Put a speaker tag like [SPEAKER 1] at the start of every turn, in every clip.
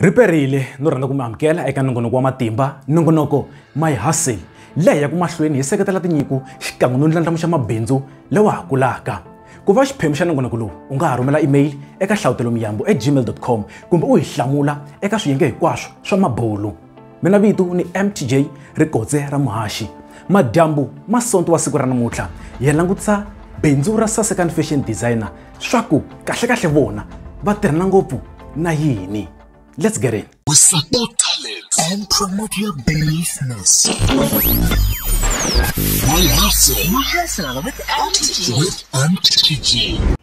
[SPEAKER 1] ri perile no rhandza ku mi amukela eka nongonoko wa matimba nongonoko my hustle leyi ya ku mahlweni hi seketela tinyiko xikan'we no ndlandlamuxa mabindzu lawa ha kulaka ku va xiphemu xa nongonoko lowu u nga ha rhumela email eka hlawutelomiyambo at gmail com kumbe u hi hlamula eka swiyenge hinkwaswo swa mabulu mina vitu ni mtj rigodze ra muhaxi madyambu ma sonto wa siku ra namuntlha hi langutisa bindzu ra sasekani fashion designer swa ku kahlekahle vona va tirhana ngopfu na yini let's get in we support talent and promote your business with MTG.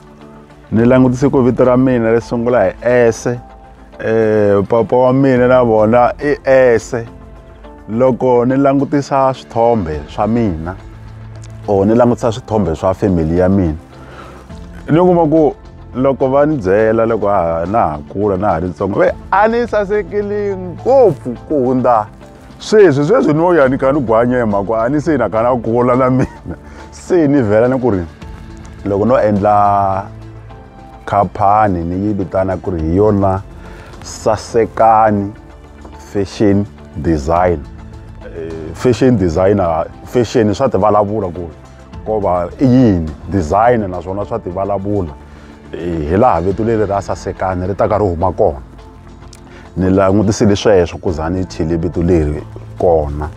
[SPEAKER 1] ni langutise ku vito ra mina ri sungula hi ese um papa wa mina na vona i ese loko ni langutisa swithombe swa mina or ni langutisa swithombe swa family ya mina ni kuma ku loko va ni byela loko na ha kula na ha ri ntsongo ve a ni sasekile ngopfu ku hundza sweswi sweswi no ya ni kha ni gwanya hi mhaka a ni se na kha na kula na mina se ni vhela ni ku ri loko no endla khaphani ni yi vitana ku ri hi yona sasekani fashion design eh, fashion designer fashion swa tivulavula ku ri ko va i yini design naswona swa tivulavula eh, hi laha vito leri ra sasekani ri ta ka ri huma kona ni langutisile sweswo ku za ni thyile vito leri kona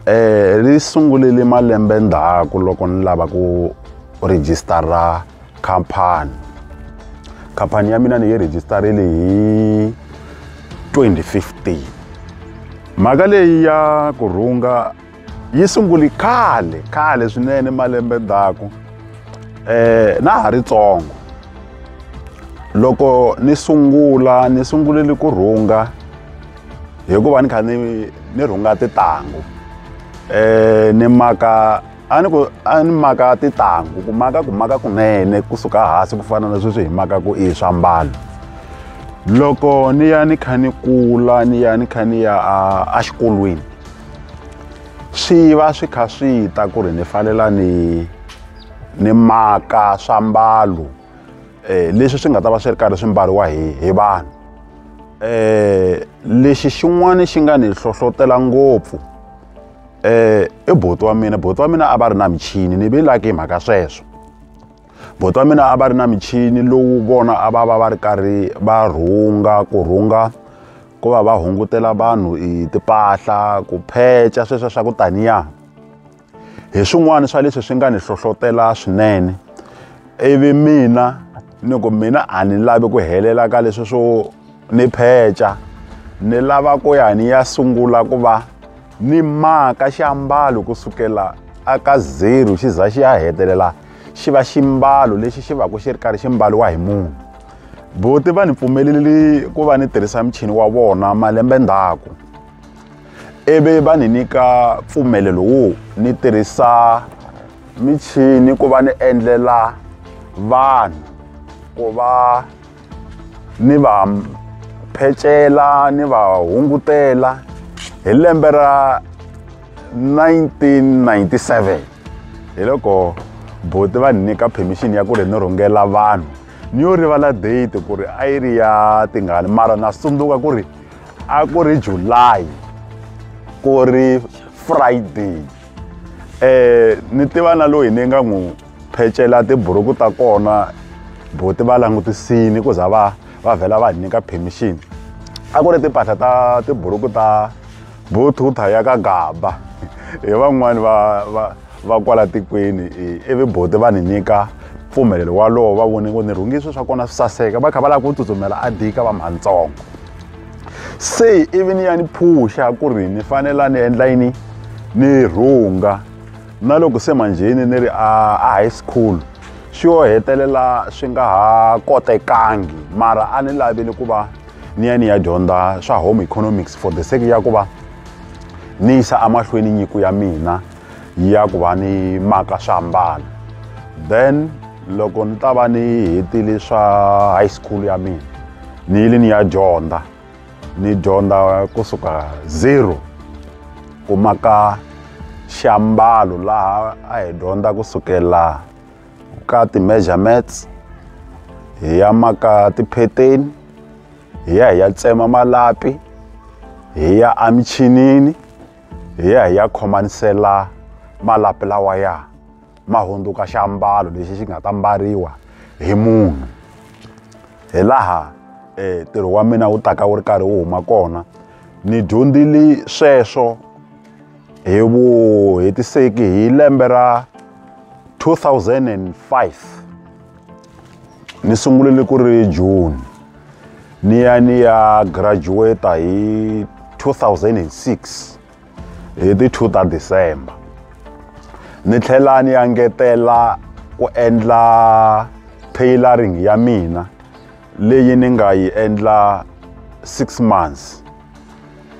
[SPEAKER 1] um ri sungulile malembe ndzhaku loko ni lava ku rejistara khampani khampani ya mina ni yi rejistarile hi 2015 mhaka leyi ya ku rhunga yi sunguli khale khale swinene malembe ndzhaku eh na ha ri tsongo loko ni sungula ni sungulile ku rhunga hikuva ni kha ni ni rhunga titangu eh ni maka a ni ku a ni maka titangu ku maka ku maka kunene kusuka hansi ku fana na sweswi hi maka ku i swambalo loko ni ya ni kha ni kula ni ya ni kha ni ya a exikolweni swi va swi kha swi ta ku ri ni fanela ni ni maka swambalo eh leswi swi nga ta va swi ri karhi swi mbariwa hi hi vanhu eh lexi xin'wana xi nga ni hlohlotela ngopfu eh i boti wa mina boti wa mina a va ri na michini ni ve laki hi mhaka sweswo boti wa mina a va ri na michini lowu vona a va va va ri karhi va rhunga ku rhunga ku va va hungutela vanhu i tipahla ku pheca sweswo swa ku taniya hi swin'wana swa leswi swi nga ni hlohlotela swinene ivi mina ni ku mina a ni lavi ku helela ka leswi swo ni pheca ni lava ku ya ni ya sungula ku va ni maka xiambalo ku sukela aka zero xi za xi ya hetelela xi va ximbalo lexi xi vaku xi ri karhi xi mbaliwa hi munhu buti va ni pfumeleli ku va ni tirhisa michini wa vona malembe ndzhaku ivi va ni nyika mpfumelelo wo ni tirhisa michini ku va ni endlela vanhu ku va ni va phecela ni va hungutela hi lembe ra 1997 hi loko boti va ni nyika permission ya ku ri ni rhungela vanhu ni yo rivala date ku ri a yi ri ya tingani mara na tsundzuka ku ri a ku ri july ku ri friday um ni tiva na loyi ni nga n'wi phecela tiburuku ta kona buti va langutisini ku za va va vhela va hi nyika permission a ku ri timpahla ta tiburuku ta bututha ya ka gaba hi van'wani va va va kwala tikweni ivi buti va ni nyika mpfumelelo walowo va vone ku ni rhungisi swa kona swi saseka va kha va lava ku tsutsumela adika va mhantsongo se ivi ni ya ni phuxa ku ri ni fanela ni endla yini ni rhunga Na loko se manjheni ni ri a a high school swi yo hetelela swi nga ha kotekangi mara a ni lavi ni ku va ni ya ni ya dyondza swa home economics for the sake ya ku va ni yisa emahlweni nyiko ya mina ya ku va ni maka swiambalo then loko ni ta va ni hetile swa high school ya mina ni yile ni ya dyondza ni dyondza kusuka zero ku maka xiambalo laha a hi dyondza kusukela ka ti-measurements hi ya maka ti-pattern hi ya hi ya tsema malapi hi ya emichinini hi ya hi ya khomanisela malapi lawaya ma hundzuka xiambalo lexi xi nga ta mbariwa hi munhu hi laha eh, ntirho wa mina wu taka wu ri karhi wu huma kona ni dyondzile sweswo hi vuhetiseki hi lembe ra 2005 ni sungulile ku ri june ni ya ni ya graduata hi 2006 hi ti 2 ta december ni tlhela ni ya ngetela ku endla tailoring ya mina leyi ni nga yi endla six months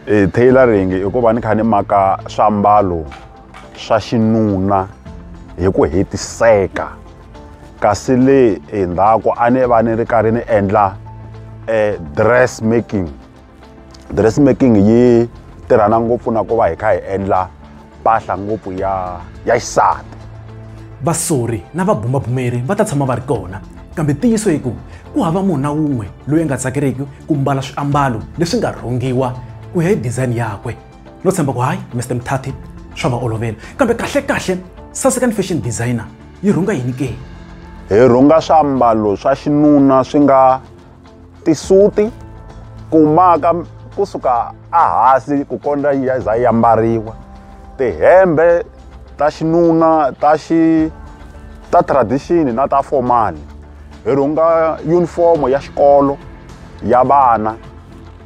[SPEAKER 1] e tailoring i ku va ni kha ni maka swiambalo swa xinuna hi ku hetiseka kasi le endzhaku a ni va ni ri karhi ni endla e dress making dressmaking yi tirhana ngopfu na ku va hi kha hi endla mpahla ngopfu ya ya xisati vasori na vabumbabumeri va ta tshama va ri kona kambe ntiyiso hi ku ku hava munhu na wun'we loyi a nga tsakeriki ku mbala swiambalo leswi nga rhungiwa ku ya hi design yakwe no tshemba ku hayi mr mthathi swa va olovela kambe kahlekahle sasekani fashion designer yi rhunga yini ke hi rhunga swiambalo swa xinuna swi nga tisuti ku maka kusuka ahasi ku kondza yi za yi ambariwa tihembe ta xinuna ta xi ta tradition na ta formal hi rhunga uniform ya xikolo ya vana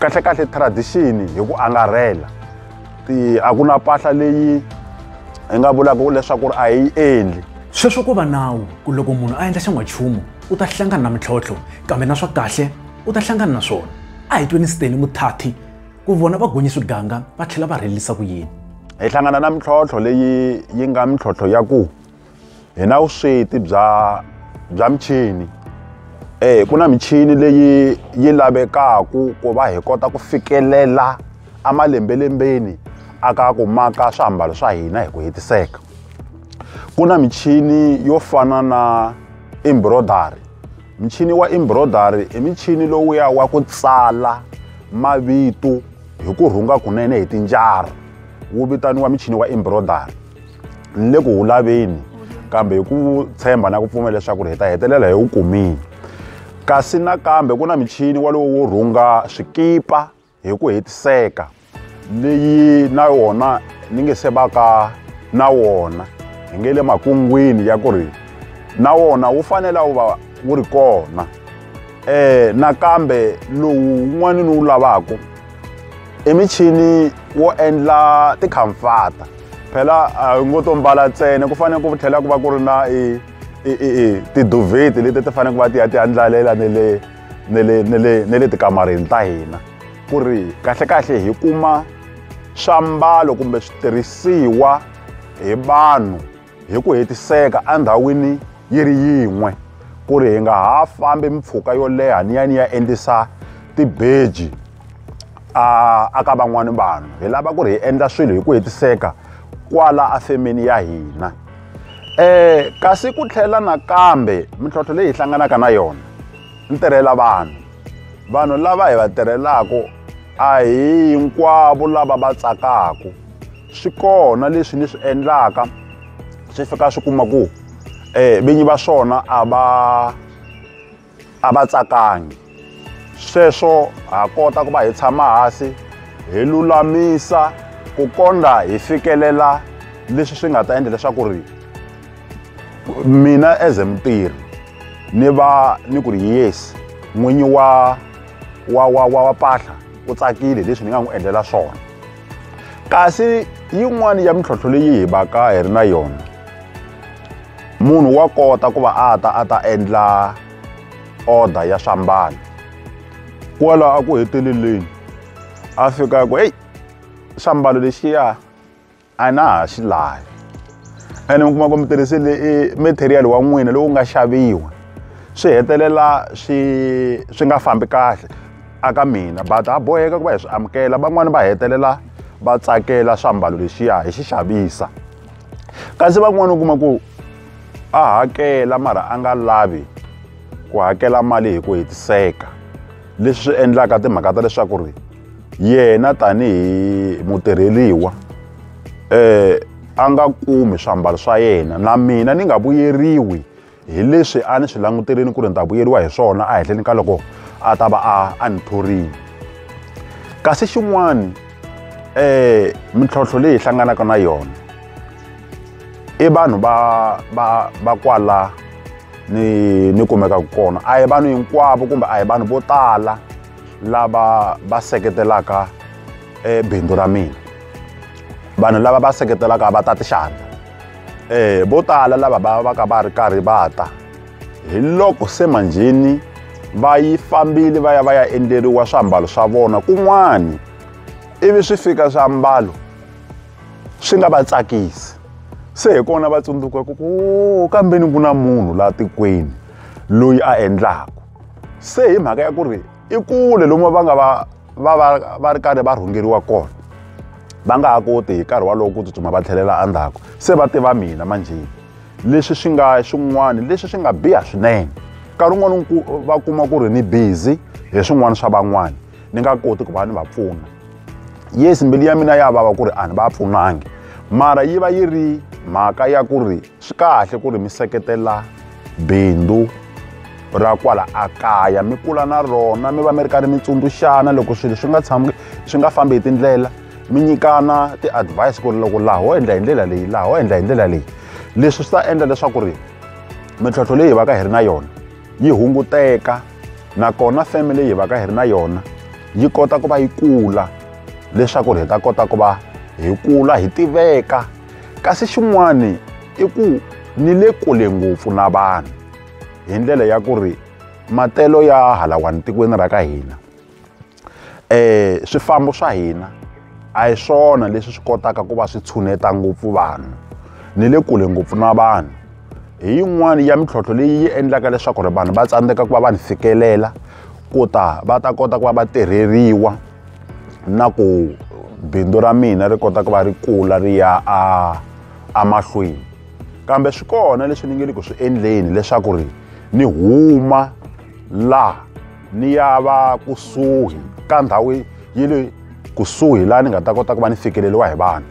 [SPEAKER 1] kahlekahle tradition hi ku angarhela ti a ku na mpahla leyi hi nga vulaka leswaku ri a yi endli sweswo ko va nawu ku loko munhu a endla xan'wachumu u ta hlangana na mintlhontlho kambe na swa kahle u ta hlangana na swona a hi tweni siteni muthathi ku vona va gonye swiganga va tlhela va rhelisa ku yini hi hlangana na mintlhontlho leyi yi nga mintlhontlho ya ku hi na vusweti bya bya michini eh ku na michini leyi yi lavekaka ku va hi kota ku fikelela amalembelembeni aka ku maka swiambalo swa hina hi ku hetiseka ku na michini yo fana na embroidery michini wa embroidery i michini lowuya wa ku tsala mavito hi ku rhunga kunene hi tinjara wu vitaniwa michini wa embroidery ni le ku wu laveni kambe hi ku tshemba na ku pfumela leswaku ri hi ta hetelela hi wu kumile kasi nakambe ku na michini walowo wo rhunga swikipa hi ku hetiseka leyi na yona ni nge se vaka na wona hi nge le makungwini ya ku ri na wona wu fanele wu va wu ri kona um nakambe lowu wun'wana ni wu lavaka i michini wo endla tikhamfata phela a hi ngo to mbala ntsena ku fanele ku tlhela ku va ku ri na i i i tiduvheti leti ti fanele ku va ti ya ti andlalela ne le ne le ne le ne le tikamareni ta hina ku ri kahlekahle hi kuma swiambalo kumbe switirhisiwa hi vanhu hi ku hetiseka endhawini yi ri yin'we ku ri hi nga ha fambi mpfhuka yo leha ni ya ni ya endlisa tibeji a ka van'wani vanhu hi lava ku ri hi endla swilo hi ku hetiseka kwala afemeni ya hina eh kasi ku tlhela nakambe mintlhontlho leyi hi hlanganaka na yona ntirhela vanhu vanhu lava hi va tirhelaka a hi hinkwavo lava va tsakaka swi kona leswi ni swi endlaka swi fika swi kuma ku eh vinyi va swona a va a va tsakangi sweswo ha kota ku va hi tshama hansi hi lulamisa ku kondla hi fikelela leswi swi nga ta endla leswaku ri mina as mutirhi ni va ni ku ri yes n'winyi wa wa wa wa wa pahla u tsakile leswi ni nga n'wi endlela swona kasi yin'wana ya mintlhontlho leyi hi va ka hi ri na yona munhu wa kota ku va a ta a ta endla order ya swambalo kwala a ku heteleleni a fika ku heyi swiambalo lexiya a na ha xi lavi ene mi kuma ku mi tirhisile i material wa n'wina lowu nga xaviwa swi hetelela swi swi nga fambi kahle aka mina but ha boheka ku va hi swi amukela van'wani va hetelela va tsakela swiambalo leswiya hi xi xavisa kasi van'wani u kuma ku a hakela mara a nga lavi ku hakela mali hi ku hetiseka leswi swi endlaka timhaka ta leswaku ri yena tanihi mutirheliwa eh a nga kumi swiambalo swa yena na mina ni nga vuyeriwi hi leswi a ni swi languteleni ku ri ni ta vuyeriwa hi swona a hehleni ka loko a ta va a a ni thorile kasi xin'wana eh mintlhontlho leyi hi hlanganaka na yona i vanhu ba ba ba kwala ni ni kumekaka kona a hi vanhu hinkwavo kumbe a hi vanhu vo tala lava va seketelaka e bindzu ra mina vanhu lava va seketelaka va ta tixandla eh vo tala lava va va ka va ri karhi va ta hi loko se manjheni va yi fambile va ya va ya endleriwa swiambalo swa vona kun'wani ivi swi fika swiambalo swi nga va tsakisi se hi kona va tsundzuka ku ku kambeni ku na munhu laha tikweni loyi a endlaka se hi mhaka ya ku ri i kule lomu va nga va va va va ri karhi va rhungeriwa kona va nga ha koti hi nkarhi walowo ku tsutsuma va tlhelela endzhaku se va tiva mina manjheni leswi swi nga swin'wana leswi swi nga biha swinene nkarhi wun'wana va kuma ku ri ni busy hi swin'wana swa van'wana ni nga koti ku va ni va pfuna yes mbilu ya mina ya vava ku ri a ni va pfunangi mara yi va yi ri mhaka ya ku ri swi kahle ku ri mi seketela bindzu ra kwala a kaya mi kula na rona mi va mi ri karhi mi tsundzuxana loko swilo swi nga tshami swi nga fambi hi tindlela mi nyikana ti-advice ku ri loko laha ho endla hi ndlela leyi laha ho endla hi ndlela leyi leswi swi ta endla leswaku ri mintlhontlho leyi hi va ka hi ri na yona yi hunguteka nakona family leyi hi va ka hi ri na yona yi kota ku va yi kula leswaku ri hi ta kota ku va hi kula hi tiveka kasi xin'wani i ku ni le kule ngopfu na vanhu hi ndlela ya ku ri matelo ya halawani tikweni ra ka hina eh swifambo swa hina a hi swona leswi swi kotaka ku va swi tshuneta ngopfu vanhu ni le kule ngopfu na vanhu hi yin'wani ya mintlhontlho leyi yi endlaka leswaku ri vanhu va tsandzeka ku va vanhu fikelela ku ta va ta kota ku va va tirheriwa na ku bindzu ra mina ri kota ku va ri kula ri ya a emahlweni kambe swi kona leswi ni nge le ku swi endleni leswaku ri ni huma laha ni ya va kusuhi ka ndhawu yi le kusuhi laha ni nga ta kota ku va ni fikeleriwa hi vanhu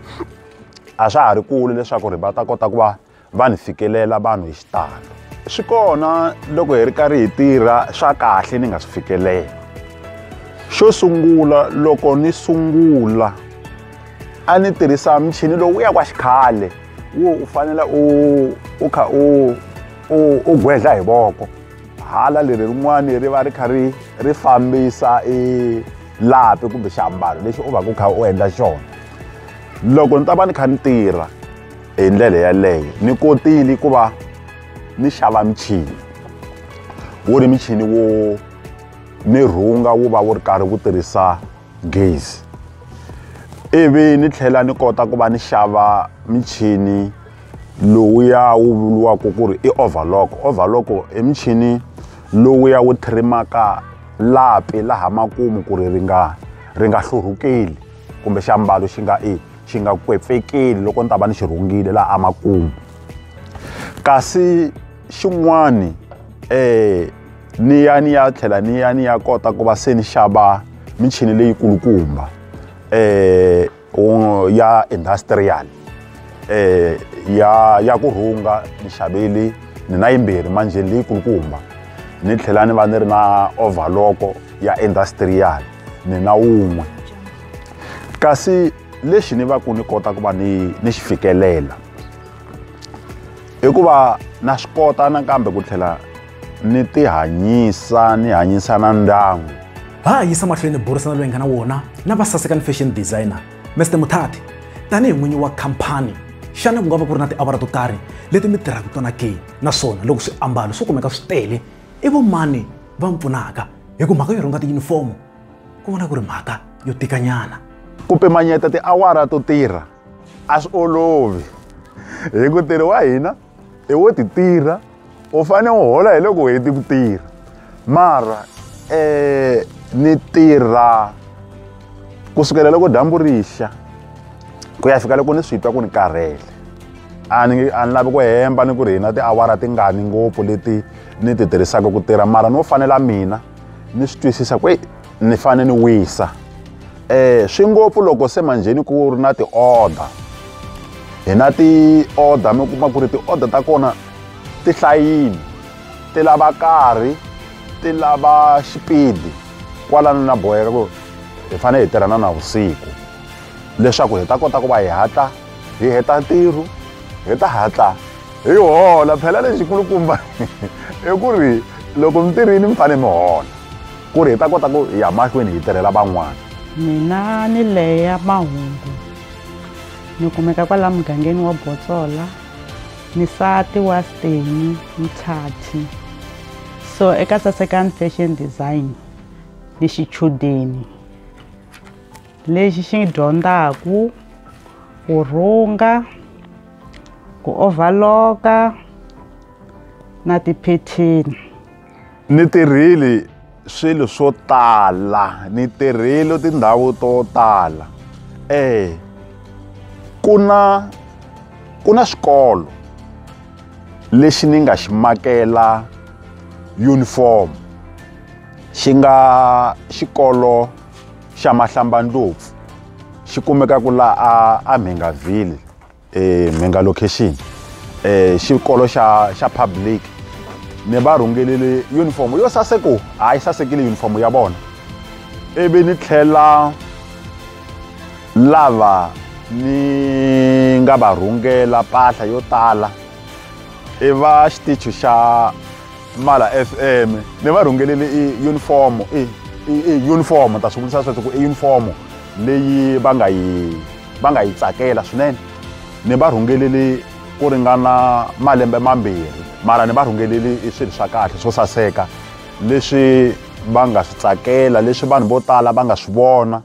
[SPEAKER 1] a swa ha ri kule leswaku ri va ta kota ku va va ni fikelela vanhu hi xitalo swi kona loko hi ri karhi hi tirha swa kahle ni nga swi fikelela xo sungula loko ni sungula a ni tirhisa michini lowu ya kwa xikhale wo u fanele u u kha u u u gwedla hi voko hala leri rin'wani ri va ri kha ri ri fambisa i lapi kumbe xiambalo lexi u va ku kha u endla xona loko ni ta va ni kha ni tirha hi ndlela yaleyo ni kotile ku va ni xava michini wu ri michini wo ni rhunga wu va wu ri karhi wu tirhisa gezi ivi ni tlhela ni kota ku va ni xava michini lowuya wu vuriwaka ku ri i overlock overlock i michini lowuya wu trimaka lapi laha makumu ku ri ri nga ri nga hlurhukeli kumbe xiambalo xi nga i xi nga kwepfekeli loko ni ta va ni xi rhungile laha emakumu kasi xin'wani eh ni ya ni ya tlhela ni ya ni ya kota ku va se ni xava michini leyi kulukumba eh ya industrial eh ya ya ku rhunga ni xaveli ni na yimbirhi manje leyi kulukumba ni tlhela ni va ni ri na overlock ya industrial ni na wun'we kasi lexi ni va ku ni kota ku va ni ni xi fikelela hikuva na swi kota nakambe ku tlhela ni tihanyisa ni hanyisa na ndyangu ha ha yisa mahlweni burisana loyi nga na wona na va sasekani fashion designer mr muthati tanihi n'winyi wa khampani xana ku nga va ku ri na tiawara to karhi leti mi tirhaka tona ke naswona loko swiambalo swo kumeka swi tele i vomani va mi pfunaka hi ku mhaka yo rhunga tiyunifomo ku vona ku ri mhaka yo tikanyana ku pimanyeta tiawara to tirha a swi olovi hi ku tirhi wa hina i wo ti tirha u fane u hola hi loko u heti ku tirha mara eh ni tirha ku sukela loko dyambu rixa ku ya fika loko ni swi twa ku ni karhele a ni a ni lavi ku hemba ni ku ri hina tiawara tingani ngopfu leti ni ti tirhisaka ku tirha mara no fanela mina ni swi twisisa ku eyi ni fanele ni wisa um swi ngopfu loko se manjheni ku ri na ti-order hi na ti-order mi kuma ku ri ti-order ta kona ti hlayini ti lava karhi ti lava xipidi kwalano na boheka ku hi fanele hi tirhana na vusiku leswaku hi ta kota ku va hi hatla hi heta ntirho hi ta hatla hi hola phela lexi kulukumba i ku ri loko mi tirhini mi fanele mi hola ku ri hi ta kota ku hi ya mahlweni hi tirhela van'wana mina ni leya mahungu ni kumeka kwala mugangeni wa botsola misati wa steni mthathi so eka sasekani fashion design ni xichudeni lexi xi dyondzaku ku rhunga ku overlock-a na tiphethini ni tirhile swilo swo tala ni tirhile tindhawu to tala eh ku na ku na xikolo lexi ni nga xi makela uniform xi nga xikolo xa mahlambandlopfu xi kumekaka laha a mhingaville eMhenga location eh xikolo xa xa public ni va rhungelele uniform yo saseko hayi sasekile uniform ya vona ivi ni tlhela lava ni nga va rhungela mpahla yo tala i va xitichi xa mala fm ni va rhungelele i uniform i i uniform ta swi vulisa sweswo ku i uniform leyi va nga yi va nga yi tsakela swinene ni va rhungeleli ku ringana malembe mambirhi mara ni va rhungeleli i swilo swa kahle swo saseka leswi va nga swi tsakela leswi vanhu vo tala va nga swi vona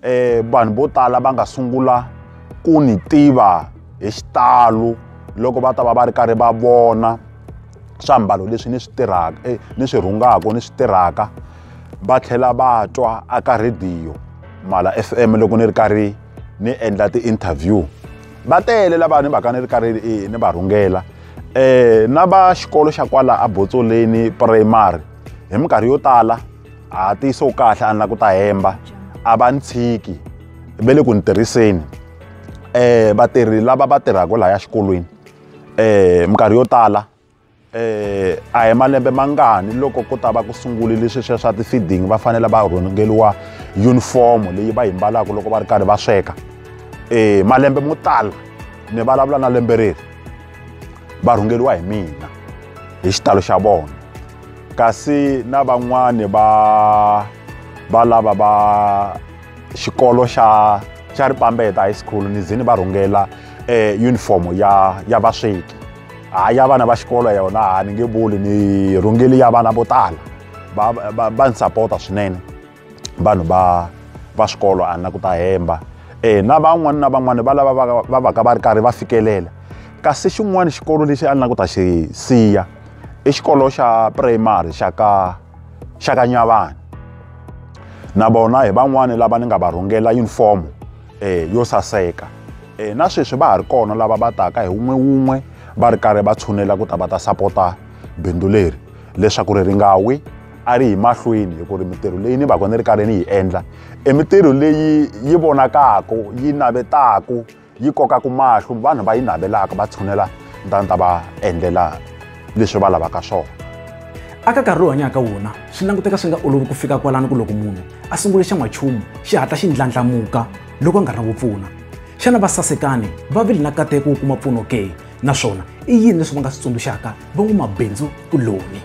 [SPEAKER 1] um vanhu vo tala va nga sungula ku ni tiva hi xitalo loko va ta va va ri karhi va vona swiambalo leswi ni swi tirhaka eh, ni swi rhungaka ni swi tirhaka va tlhela va twa a ka rhediyo mala fm loko ni ri karhi ni endla ti-interview va tele lava ni vaka ni ri karhi eh, ni va rhungela um na va xikolo xa kwala a botsoleni primary hi minkarhi yo tala a ti so kahle a ni la ku ta hemba a va ni tshiki ve le ku ni tirhiseni um vatirhi lava va tirhaka lahaya xikolweni minkarhi yo tala a hi malembe mangani loko ku ta va ku sungulile sweswiya swa ti-feeding va fanele va rhungeriwa yunifomo leyi va yi mbalaka loko va ri karhi va sweka um malembe mo tala ni vulavula na lembe reri va rhungeriwa hi mina hi xitalo xa vona kasi na van'wani va va lava va xikolo xa xa ripambeta high school ni zini va rhungela eh, uniform ya ya vasweki hayi ya vana va xikolo yona ha ni nge vuli ni rhungeli ya vana vo tala va va, va ni sapota swinene vanhu va va swikolo a na ku ta hemba eh na van'wana na van'wana va lava va va ka va ri karhi va fikelela kasi xin'wana xikolo lexi a ni na ku ta xi siya i xikolo xa primary xa ka Shaka Nyavane na vona hi van'wani lava ni nga va rhungela yunifomo eh, yo saseka eh, na sweswi va ha ri kona lava va taka hi wun'we wun'we va ri karhi va tshunela ku ta va ta sapota bindzu leri leswaku ri ri nga wi a ri hi mahlweni hi ku ri mintirho leyi ni vaka ni ri karhi ni yi endla i mintirho leyi yi vonakaka yi navetaku yi kokaka mahlo vanhu va yi navelaka va tshunela ntanta va endlela leswi va lavaka swona aka nkarhi lowu hanyaka wona swi languteka swi nga olovi ku fika kwalano ku loko munhu a sungule xa n'wachumu xi hatla xi ndlandlamuka loko a nga ri na vo pfuna xana va sasekani va vile na kateko wo kuma mpfuno ke naswona i yini leswi va nga swi tsundzuxaka van'wamabindzu kuloni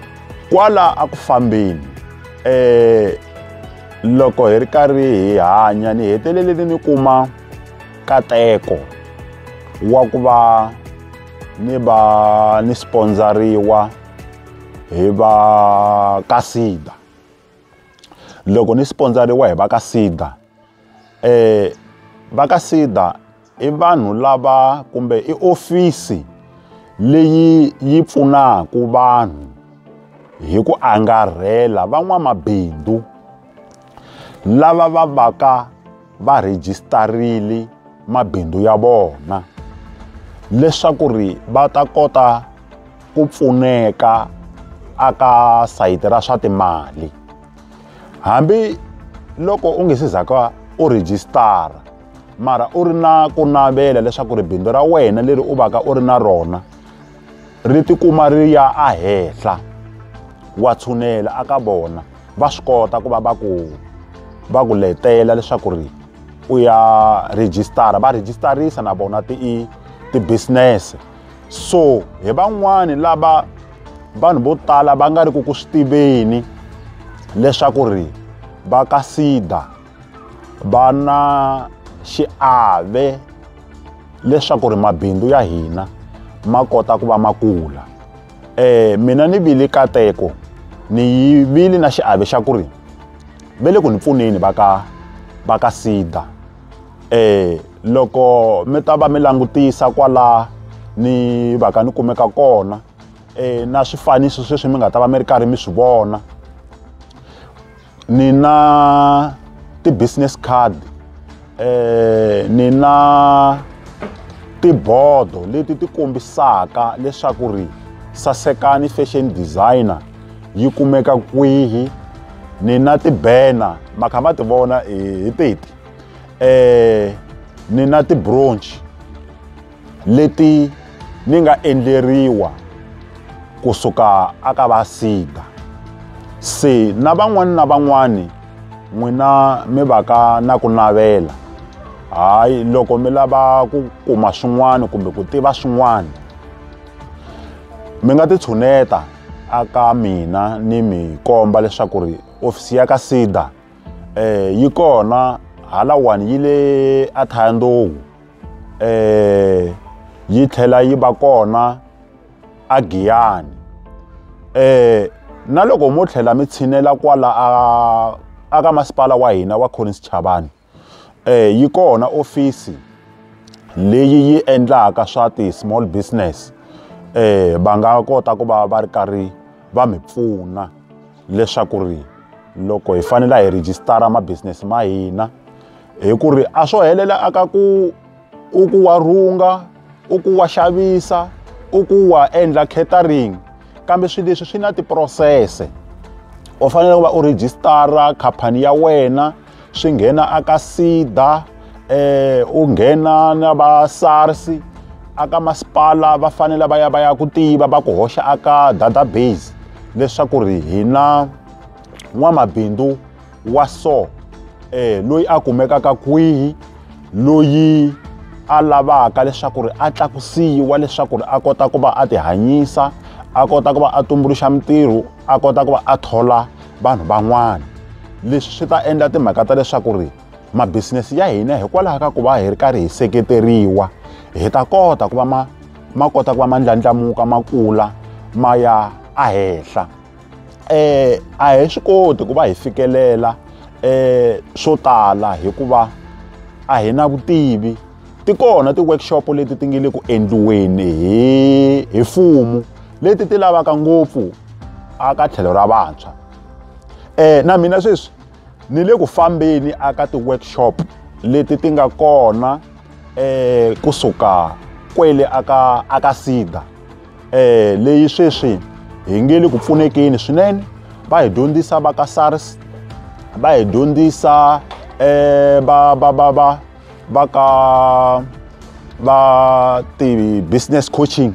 [SPEAKER 1] kwala a ku fambeni um loko hi ri karhi hi hanya ni heteleleni ni kuma nkateko wa ku va ni va ni sponzariwa hi va ka sida loko ni sponzariwa hi va ka sida eh va ka sida i vanhu lava kumbe i ofisi leyi yi pfunaka vanhu hi ku angarhela van'wamabindzu lava va vaka va rhejistarile mabindzu ya vona leswaku ri va ta kota ku pfuneka aka sayiti ra swa timali hambi loko u nge se zaka u rhejistara mara u ri na ku navela leswaku ri bindzu ra wena leri u vaka u ri na rona ri tikuma ri ya ahehla wa tshunela aka vona va swi kota ku va va ku va ku letela leswaku ri u ya rejistara va rejistarisa na vona ti ti-business so hi van'wani lava vanhu vo tala va nga ri ku ku swi tiveni leswaku ri va ka sida va na xiave leswaku ri mabindzu ya hina ma kota ku va ma kula eh mina ni vili kateko ni yivile na xiave xa ku ri ve le ku ni pfuneni va ka va ka sida eh loko mi ta va mi langutisa kwala ni va ka ni kumeka kona eh na swifaniso sweswi mi nga ta va mi ri karhi mi swi vona ni na ti-business card eh ni na tibodo leti ti kombisaka leswaku ri sasekani fashion designer yi kumeka kwihi ni na ti-banner ma kha ma ti vona hi teti eh ni na ti-bronchi. leti ni nga endleriwa ku suka aka va sida se na van'wani na van'wani n'wina mi va ka na ku navela hayi loko mi lava ku kuma swin'wani kumbe ku tiva swin'wani mi nga ti tshuneta aka mina ni mi komba leswaku ri ofisi ya ka sida um yi kona halawani yi le a thayandowu eh yi tlhela yi va kona a Giyani eh na loko mo tlhela mi tshinela kwala a a ka masipala wa hina wa Collins Chavani eh yi kona ofisi leyi yi endlaka swa ti small business eh va nga kota ku va va ri karhi va mi pfuna. leswaku ri loko hi fanele hi rejistara mabisinesi ma hina hi ku ri a swo helela aka ku u ku wa rhunga u ku wa xavisa u ku wa endla catering kambe swilo leswi swi na tiphurosese u fanele u va u rejistara khampani ya wena swi nghena aka sida eh u nghena na va SARS aka masipala va fanele va ya va ya ku tiva va ku hoxa aka database leswaku ri hina n'wamabindzu wa so eh loyi a kumekaka kwihi loyi a lavaka leswaku ri a tlakusiwa leswaku ri a kota ku va a tihanyisa a kota ku va a tumbuluxa mintirho a kota ku va a thola vanhu van'wana leswi swi ta endla timhaka ta leswaku ri mabisinesi ya hina hikwalaho ka ku va hi ri karhi hi seketeriwa hi ta kota ku va ma ma kota ku va ma ndlandlamuka ma kula ma ya ehenhla eh a hi swi koti ku va hi fikelela eh swo tala hikuva a hi na vutivi ti kona ti-workshop leti ti nge le ku endliweni hi hi mfumo leti ti lavaka ngopfu aka tlhelo ra vantshwa eh na mina sweswi ni le ku fambeni aka ti-workshop leti ti nga kona eh kusuka kwele aka aka sida eh leyi sweswi hi nge le ku pfunekeni swinene va hi dyondzisa va ka SARS va hi dyondzisa eh va va va va va ka va ti-business coaching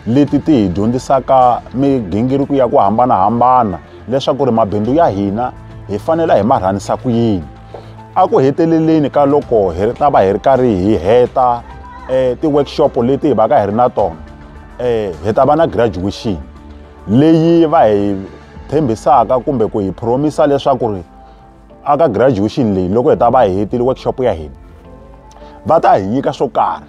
[SPEAKER 1] leti ti hi dyondzisaka migingiriko ya ku hambanahambana leswaku ri mabindzu ya hina hi fanele hi ma rhanisa ku yini a ku heteleleni ka loko hi ta va hi ri karhi hi heta eh, ti-workshop leti hi va ka hi ri na tona eh, hi ta va na graduation leyi va hi tshembisaka kumbe ku hi promisa leswaku ri aka graduation leyi loko hi ta va hetile workshop ya hina va ta hi nyika swo karhi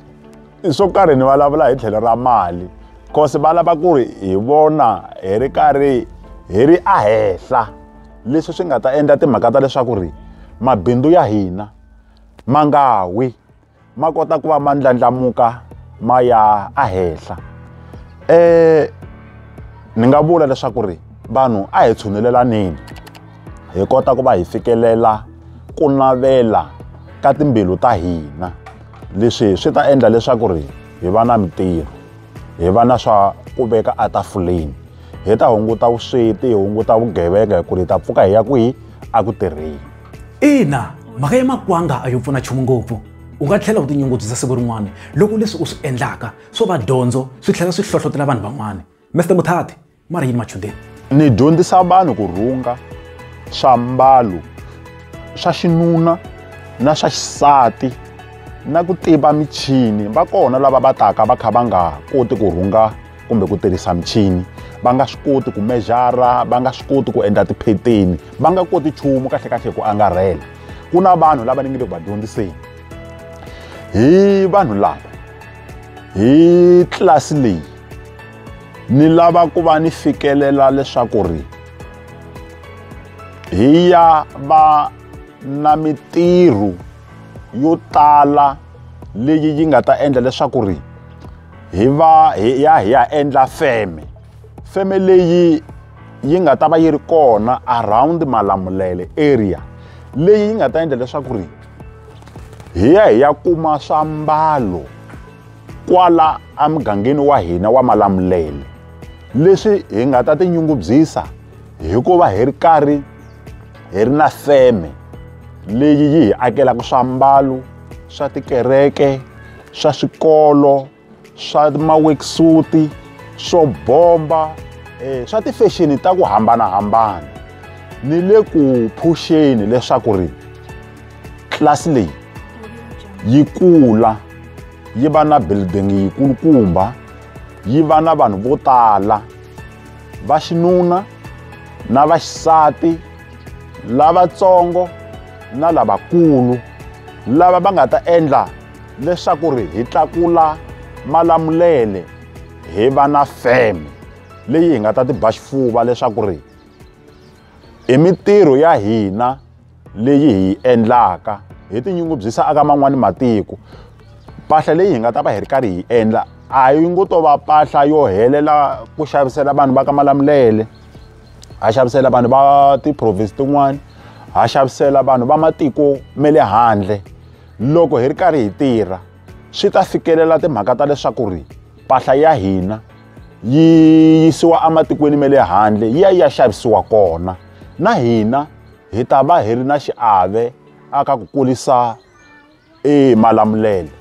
[SPEAKER 1] i swo karhi ni vulavula hi tlhelo ra mali cause va lava ku ri hi vona hi ri karhi hi ri ahehla leswi swi nga ta endla timhaka ta leswaku ri mabindzu ya hina ma nga wi ma kota ku va ma ndlandlamuka ma ya ehenhla um ni nga vula leswaku ri vanhu a hi tshunelelaneni hi kota ku va hi fikelela ku navela ka timbilu ta hina leswi swi ta endla leswaku ri hi va na mitirho hi va na swa ku veka atafuleni hi ta hunguta vusweti hi hunguta vugevenga hi ku ri hi ta pfuka hi ya kwihi a ku tirheni ina mhaka ya makwanga a yo pfuna nchumu ngopfu u nga tlhela u tinyungubyisa siku rin'wana loko leswi u swi endlaka swo va dyondzo swi tlhela swi hlohlotela vanhu van'wana mr muthati ma ri yini machudeni ni dyondzisa vanhu ku rhunga swiambalo swa xinuna na swa xisati na ku tiva michini va kona lava va taka va kha va nga koti ku rhunga kumbe ku tirhisa michini va nga swi koti ku mejara va nga swi koti ku endla tipheteni va nga koti nchumu kahlekahle hi ku angarhela ku na vanhu lava ni nge le ku va dyondziseni hi vanhu lava hi tlilasi leyi ni lava ku va ni fikelela leswaku ri hi ya va na mitirho yo tala leyi yi nga ta endla leswaku ri hi va hi ya hi ya endla feme feme leyi yi nga ta va yi ri kona around malamulele area leyi yi nga ta endla leswaku ri hi ya hi ya kuma swambalo kwala emugangeni wa hina wa malamulele leswi hi nga ta tinyungubyisa hikuva hi ri karhi hi ri na feme leyi yi hi akelaka swambalo swa tikereke swa swikolo swa ma-worksuit swo bomba eh, swa tifexini ta ku hambanahambana ni le ku phuxeni leswaku ri tlilasi leyi yi kula yi va na building yikulukumba yi va na vanhu vo tala va xinuna na va xisati lavatsongo na lavakulu lava va nga ta endla leswaku ri hi tlakula malamulele hi va na feme leyi hi nga ta ti ba xifuva leswaku ri i mintirho ya hina leyi hi yi endlaka hi tinyungubyisa aka man'wani matiko mpahla leyi hi nga ta va hi ri karhi hi endla a yi ngo to va mpahla yo helela ku xavisela vanhu va ka malamulele ha xavisela vanhu va ti-province tin'wana ha xavisela vanhu va matiko ma le handle loko hi ri karhi hi tirha swi ta fikelela timhaka ta leswaku ri mpahla ya hina yi yisiwa ematikweni ma le handle yi ya yi ya xavisiwa kona na hina hi ta va hi ri na xiave aka ku kurisa e malamulelo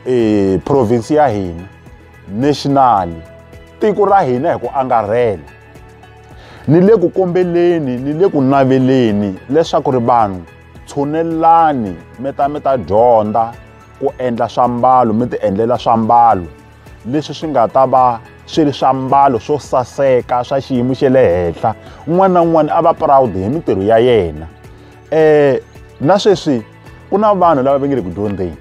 [SPEAKER 1] e province ya hina national tiko ra hina hi ku angarhela ni le ku kombeleni ni le ku naveleni leswaku ri vanhu tshunelani mi ta mi ta dyondza ku endla swiambalo mi ti endlela swiambalo leswi swi nga ta va swi ri swiambalo swo saseka swa xiyimo xa le henhla un'wana na un'wana a va proud hi mintirho ya yena um na sweswi ku na vanhu lava va nge le ku dyondzeni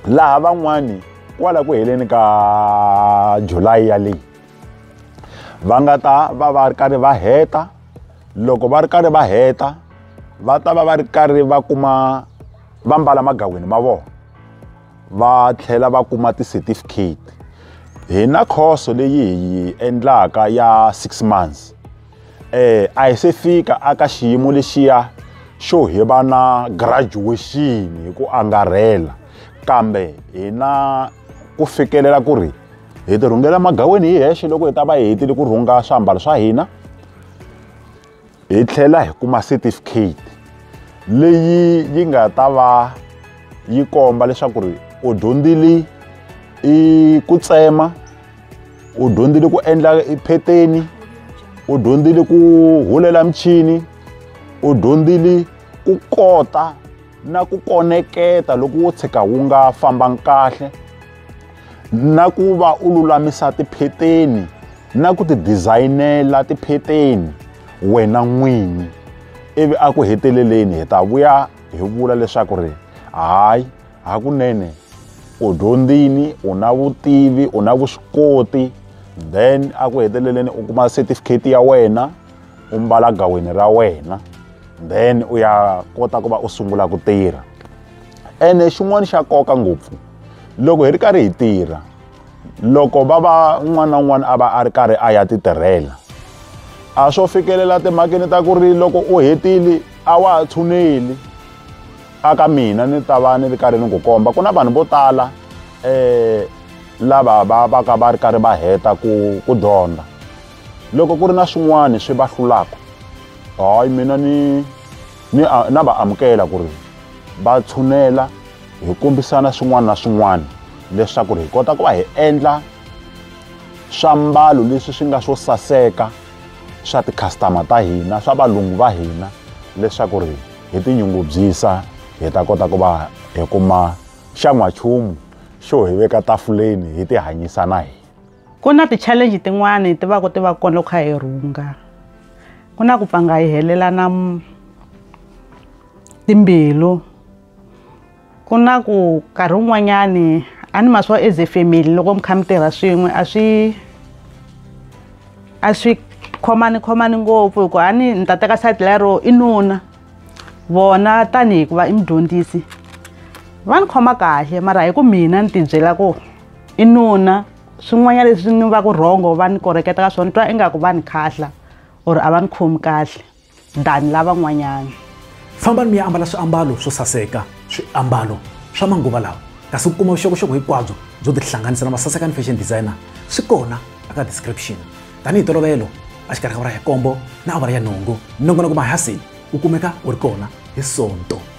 [SPEAKER 1] laha van'wani kwala ku heleni ka july yaleyi va nga ta va va ri karhi va heta loko va ri karhi va heta va ta va va ri karhi va kuma va mbala magawini ma vona va tlhela va kuma ti-certificate hi na khoso leyi hi yi endlaka ya six months eh a hi se fika aka xiyimo lexiya xo hi va na graduation hi ku angarhela kambe hi na ku fikelela ku ri hi tirhungela magaweni hi hexe loko hi ta va hi hetile ku rhunga swiambalo swa hina hi tlhela hi kuma certificate leyi yi nga ta va yi komba leswaku ri u dyondzile i ku tsema u dyondzile ku endla ipheteni u dyondzile ku hulela michini u dyondzile ku kota na ku koneketa loko wo tshika wu nga fambangi kahle na ku va u lulamisa tipheteni na ku tidizayinela tipheteni wena n'winyi ivi a ku heteleleni hi ta vuya hi vula leswaku ri hayi hakunene u dyondzini u na vutivi u na vuswikoti then a ku heteleleni u kuma certificate ya wena u mbala gaweni ra wena then u ya kota ku va u sungula ku tirha ene xin'wana xa nkoka ngopfu loko hi ri karhi hi tirha loko va va un'wana na un'wana a va a ri karhi a ya titirhela a swo fikelela timhakeni ta ku ri loko u hetile a wa ha tshuneli a ka mina ni ta va ni ri karhi ni ku komba ku na vanhu vo tala eh lava va va ka va ri karhi va heta ku ku dyondza loko ku ri na swin'wana swi va hlulaka hayi mina ni ni na va amukela ku ri va tshunela hi kombisana swin'wana na swin'wana leswaku hi kota ku va hi endla swambalo leswi swi nga swo saseka swa ti-customer ta hina swa valungu va hina leswaku ri hi tinyungubyisa hi ta kota ku va hi kuma xan'wachumu xo hi veka tafuleni hi ti hanyisa na hina ku na ti-challenge tin'wani ti va ku ti va kona loko kha hi rhunga ku na ku pfa nga yi helelana timbilu ku na ku nkarhi wun'wanyani a ni ma swo as a family loko mi kha mi tirha swin'we a swi a swi khomani khomani ngopfu hi ku a ni ni ta teka side lero i nuna vona tanihi ku va i mudyondzisi va ni khoma kahle mara hi ku mina ni tibyela ku i nuna swin'wanyana leswi ni va ku rhongo va ni koreketa ka swona ni twa ingaku va ni khahla or a va ni khomi kahle than lavan'wanyana fambani mi ya ambala swiambalo swo saseka swiambalo swa manguva lawa kasi ku kuma vuxokoxoko hinkwabyo byo tihlanganisa na masaseka ni fashion designer swi kona aka description tanihi tolovelo exikarhi ka awara ya kombo na awara ya nhungu nongonoko mahasini wu kumeka wu ri kona hi sonto